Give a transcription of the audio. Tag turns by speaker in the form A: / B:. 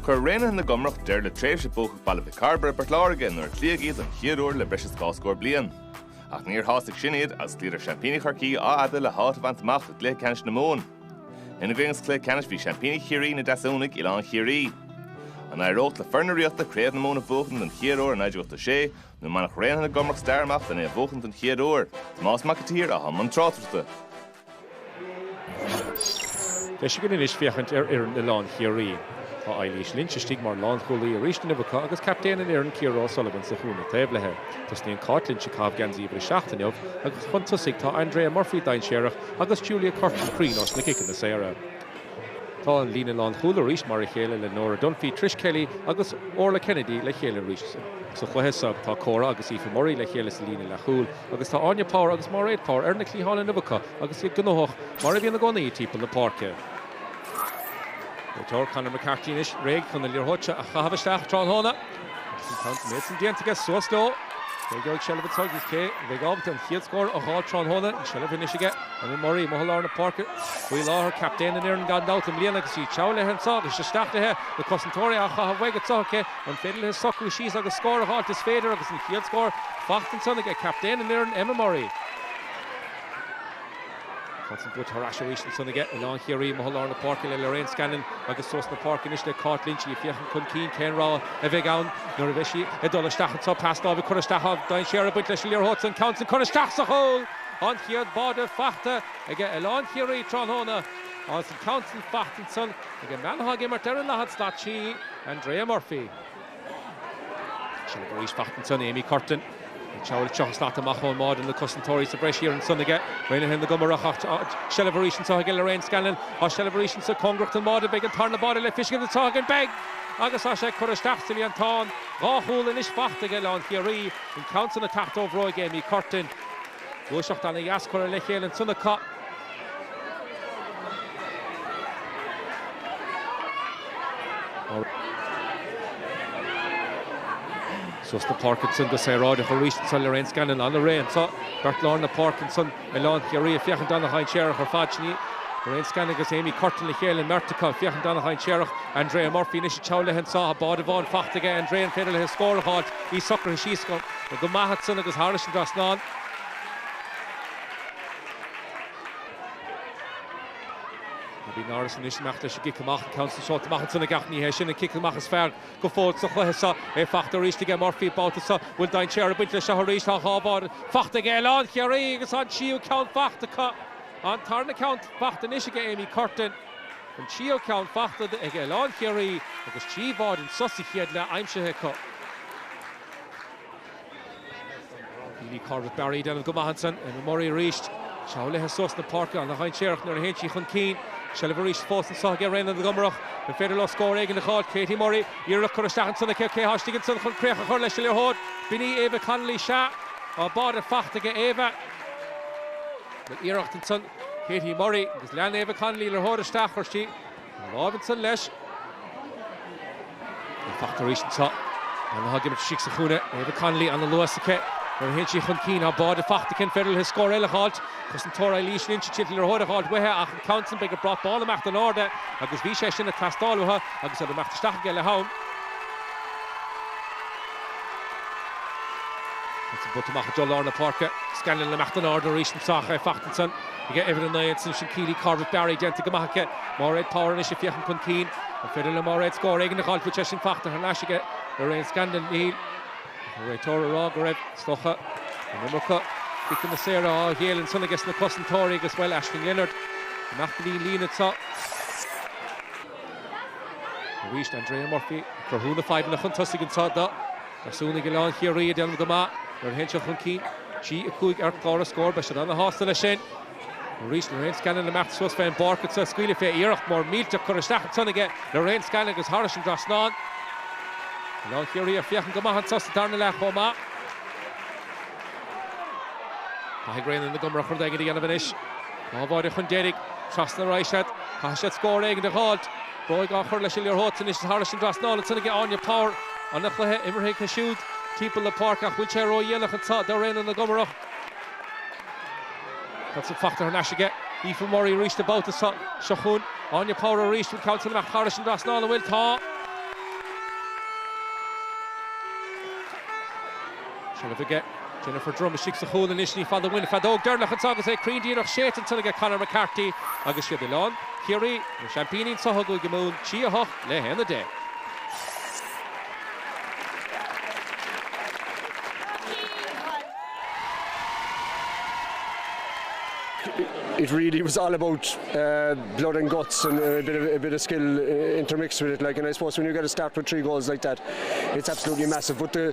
A: Chuir Raonaithe na gComarach deireadh le tréimhse buacach Bhaile Mhic Cairbre i bPort Láirge nuair a cloíodh iad don chéad uair le breis is dhá scór bliain. Ach níor shásaigh sin iad agus chloíodar seaimpíní Chorcaí Áth Fhada le háit a bhaint amach i gcluiche ceannais na Mumhan. Ina gcoinne sa chluiche ceannais bhí seaimpíní Chiarraí, na Deasúnaigh, Oileán Chiarraí. An éireodh le foireann na Ríochta Craobh na Mumhan a bhuachaint don chéad uair ó 1986 nó an mbainfeadh Raonaithe na gComarach stair amach len é a bhuachaint don chéad uair? Tomás Mac an tSaoir atá i mbun tráchtaireachta. Deis againn anois féachaint ar fhoireann Oileán Chiarraí. Tá Eilís Lynch istigh mar lánchúlaí arís inniu acu agus captaen an fhoireann Ciara O'Sullivan sa chúinne taobh léithe. Tosnaíonn Cáit Lynch ag caitheamh geansaí uimhir a seacht inniu agus chun tosaigh tá Andrea Murphy dainséarach agus Julia Curtin cruinn ós na ciceanna saora. Tá an líne lánchúl arís mar a chéile le Nora Dunphy, Trish Kelly agus Orla Kennedy le chéile arís sa chluiche so. Tá Cora agus Aoife Murray le chéile sa líne leathchúl. Agus tá Áine Power agus Máiréad Power ar na cliatháin inniu acu agus iad gnóthach, mar a bhíonn i gcónaí, timpeall na páirce. Réiteoir, Conor McCarthy anois réidh chun na liathróide a chaitheamh isteach tráthnóna. Agus an caint san ansan déanta aige, suas leo! Cé gheobhaidh seilbh anseo agus cé a bheidh ábalta an chéad scór a fháil tráthnóna? An tseilbh anois aige Emma Murray, amuigh i lár na páirce faoi láthair. Captaen an fhoireann gan dabht i mbliana agus í ag treabhadh léi anseo agus isteach léi. Na cosantóirí á chaitheamh uaidh anseo, cé. An féidir léithe socrú síos agus scór a dh'fháilt? Is féidir agus an chéad scór faighte ansan ag captaen an fhoireann, Emma Murray. Ceann san buaite thar n-ais arís ansan aige Oileán Chiarraí, amuigh i lár na páirce le Lorraine Scanlon agus suas na páirce anois le Cáit Lynch, í ag féachaint chun cinn cén rogha a bheidh ann nuair a bheidh sí ag dul isteach anseo. Pas láimhe curtha isteach, dainséar ag baint leis an liathróid san, ceann san curtha isteach sa chúl! An chéad bháide faighte aige Oileán Chiarraí tráthnóna agus an ceann san faighte ansan, Ag an mbean atá ag imirt ar an daichead slat, sí Andrea Murphy. Seilbh arís faighte ansan Amy Curtin. Ag treabhadh tríocha slat amach ón mbáide, na cosantóirí sa bhreis thiar ansan aige Raonaithe na gComarach ach tá seilbh arís anseo aige Lorraine Scanlon. Tá seilbh arís anso cóngarach don mbáide. An mbeidh an tarna báide le feiscint anseo againn. Beidh! Agus tá sé curtha isteach sa líontán. Dhá chúl anois faighte ag Oileán Chiarraí, an ceann san ag teacht ó bhróig Amy Curtin. Gluaiseacht ana dheas curtha le chéile anseo acu. Suas na páirce ansan go saoráideach arís ansan Lorraine Scanlon ana réidh anseo. Beirt lár na páirce ansan Oileán Chiarraí ag féachaint ana dhainséarach ar fad. Sin iad Lorraine Scanlon agus Amy Curtin le chéile, an mbeirt acu ag féachaint ana dhainséarach. Andrea Murphy anois ag treabhadh léithe anseo. Báide amháin faighte aige Andrea, an féidir léithe scór a dh'fháilt? Í socraithe síos go. Tá go maith agat-san agus thairis an dtrasnán. Abbie Norris anois ag imeacht leis an gcic amach, an ceann sin seolta amach ansan ag ach ní hé sin an cic amach is fearr go fóill sa chluiche seo. É fachta arís aige Murphy an babhta seo. Bhfuil dainséar ag baint leis seo arís? Tá dhá bháide fachta aige Oileán Chiarraí agus tá an tríú ceann fachta acu. An tarna ceann fachta anois aige Amy Curtin. An tríú ceann fachta ag Oileán Chiarraí agus trí bháide anso sa chéad leath aimsithe acu. Keeley Corbett Barry ag déanamh go maith ansan, Emma Murray arís. Seo léi suas na páirce, an-dhainséarach nuair a théann sí chun cinn. Seilbh arís fós anseo aige Raonaithe na gComarach. An féidir leo scór éigin a dh'fháilt? Katie Murray, iarracht curtha isteach ansan aici, cé tá istigh ansan chun críoch a chur leis an liathróid? B'in í Ava Connolly, sea, tá an báide fachta aige Ava. Bhuel iarracht ansan Katie Murray agus lean Ava Connolly liathróid isteach, chuir sí. A lámh ansan leis. Ag teacht arís anseo. Anna Hogg imithe istigh sa chúinne. Éabha Connolly ana luas aici nuair a théann sí chun cinn. Tá báide fachta aici, an féidir léi scór eile a dh'fháilt. Cosantóir Eilís Lynch ag triail an liathróid a dh'fháilt uaithe ach an ceann san beidh an brat bán ag imeacht in airde agus bhí sé sin ag teastáil uathu agus iad ag imeacht isteach aige leath-am. Ansin buailte amach i dtreo lár na páirce. Scanlon ag imeacht in airde arís anseo ach é fachta ansan. Aige uimhir a naoi agus ansan Keeley Corbett Barry déanta go maith aici. Máiréad Power anois ag féachaint chun cinn. An féidir le Máiréad scór éigin a dh'fháil bhfuil sé sin fachta thar n-ais aige Lorraine Scanlon? Níl. Ach an réiteoir ag rá go raibh, is dócha. An iomarca ciceanna saora á ghéilleadh ansan aige sna cosantóirí agus, bhuel, Aisling Leonard i ngach gníon lín anseo. Arís Andrea Murphy ag cruthú na fadhbanna chun tosaigh anseo do. Dheasmhumhnaigh Oileán Chiarraí ag déanamh go maith nuair a théann siad chun cinn. 3, 5 ar chlár na scór, beidh siad an-sásta leis sin. Arís, Lorraine Scanlon ag imeacht suas fé an bpáirc agus í ag scaoileadh fúithi. Iarracht mhór millteach curtha isteach ansan aige Lorraine Scanlon agus thairis an trasnán. Oileán Chiarraí ag féachaint go maith anso sa darna leath chomh maith. Caithfidh Raonaithe na gComarach rud éigin a dhéanamh anois. Dhá bháide chun deiridh. Trasna ar aghaidh siad. Caithfidh siad scór éigin a dh'fháilt. Bróig á chur leis an liathróid anois thairis an trasnán, ansan aige Áine Power. An-chluiche imeartha aici siúd timpeall na páirce ach bhfuil sé ródhéanach anseo do Raonaithe na gComarach. Ansan fachta thar n-ais aige Aoife Murray arís an babhta seo. Seo chugainn Áine Power arís, an ceann sin amach thairis an trasnán, an bhfuil? Tá! Seilbh aige. Jennifer Drumm istigh sa chúl anois. Ní fada uainn feadóg deiridh anseo agus é cruinn díreach. Séidte ansan aige Conor McCarthy agus is iad Oileán Chiarraí, na seaimpíní anseo i gCúige Mumhan 3, 8 le 1, 10. It really was all about blood and guts and a bit of a bit of skill intermixed with it like and I suppose when you get a start with three goals like that it's absolutely massive but the